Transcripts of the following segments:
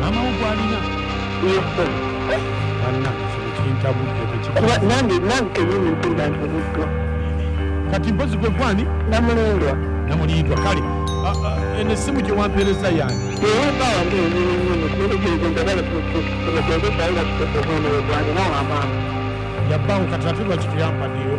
maama wo gwalina kati mpozi gwe gwani namulindwa namulindwa kale eno essimu gye wampeereza yange yabbawo kati ate lwaki tuyampaddeyo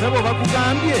sebo bakugambye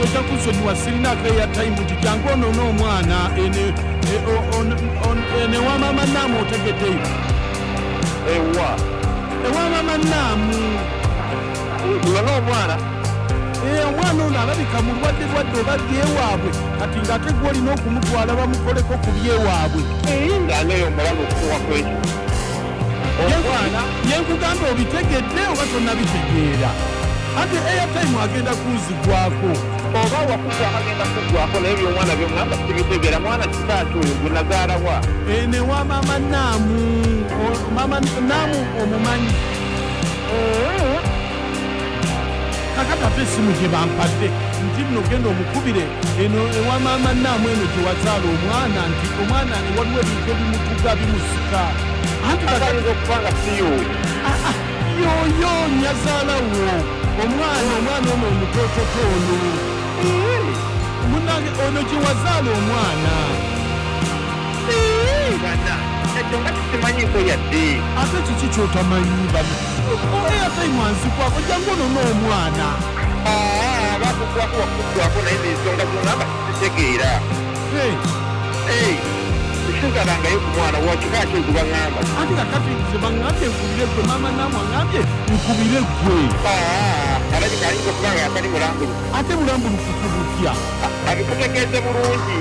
ojja kunsonyiwa sirina akeya tayimu nti jangu onoona omwana enewamama e, e, naamu otegeddeyo ewa ewamama naamu olona omwana eh, omwana ono alabika mulwadde lwadde oba byewaabwe kati ngaate gwe olina okumutwala bamukoleko ku byewaabwe eh, nganeyo omulamu okuwa kwekyo yenkugamba obitegedde oba tonabitegeera ate airtime agenda kunzigwako oba wakugwa agenda kugwako naye byomwana byomwana sibitegera mwana kitaaki oyo gwenazaalawa eh, newa mama naamu mama naamu omumanyi eh, kakati ate esimu gye bampadde nti nno genda omukubire eno ewa maama naamu eno gye wazaala omwana nti omwana ne waliwo ebintu ebimutuga bimusika anti ayinza okuba nga siyo ah, ah, yoyo nyazaala wo omwana omwana ono omutototo ono munange ono gye wazaala omwana ekyo nga kisimanyiko yadde ate kiki kyotamanyi mwanzikwako jangu ono n'omwana bakukwako wakukwako naye nensonga zongamba sitegeera sizalangayo ku mwana wakika ki nkuba ŋamba ati kakati nze baŋambye nkubire gwe maama naamwe aŋambye nkubire gwe alabika ayinza okuba nga yatali mulambulukufu ate mulambulukufu butya abikutegeeze bulungi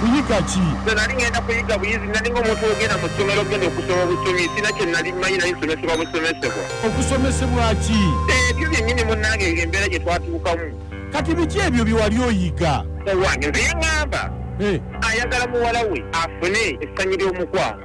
kuyiga ki nze nali ngenda kuyiga buyizi nali ngaomuntu ogenda mu ssomero ogenda okusoma obusomi sina kye nali manyi nali nsomesebwa busomesebwa okusomesebwa ki ebyo byennyini munnange eyo embeera gye twatuukamu kati biki ebyo bye wali oyiga owange nze yaŋŋamba eh. ayagala muwala we afune essanyu ly'omukwano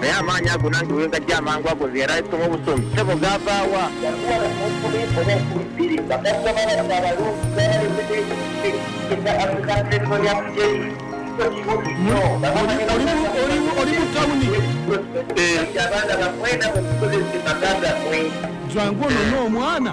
naye amaanyi ago nange wengajja amangu ago nze yali ayisoma obusomi sebo gavaawa jangu onone omwana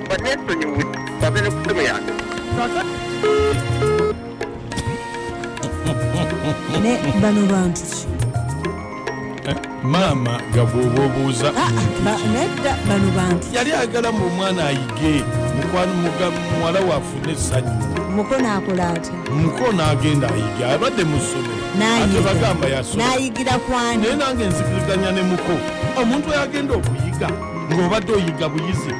banneesonyiwe bave ne ku ssimu yange ne bano bantu ki eh, maama gabwoba obuuza ah, ah, nedda bano bantu yali agala mu omwana ayige muwala wafune essanyu mukono akola atya mukono agenda ayige abadde mu ssomero ate bagamba yasonayigira kwani naye nange nzikiriganya ne muko omuntu ayagenda okuyiga ng'obadde oyiga buyizi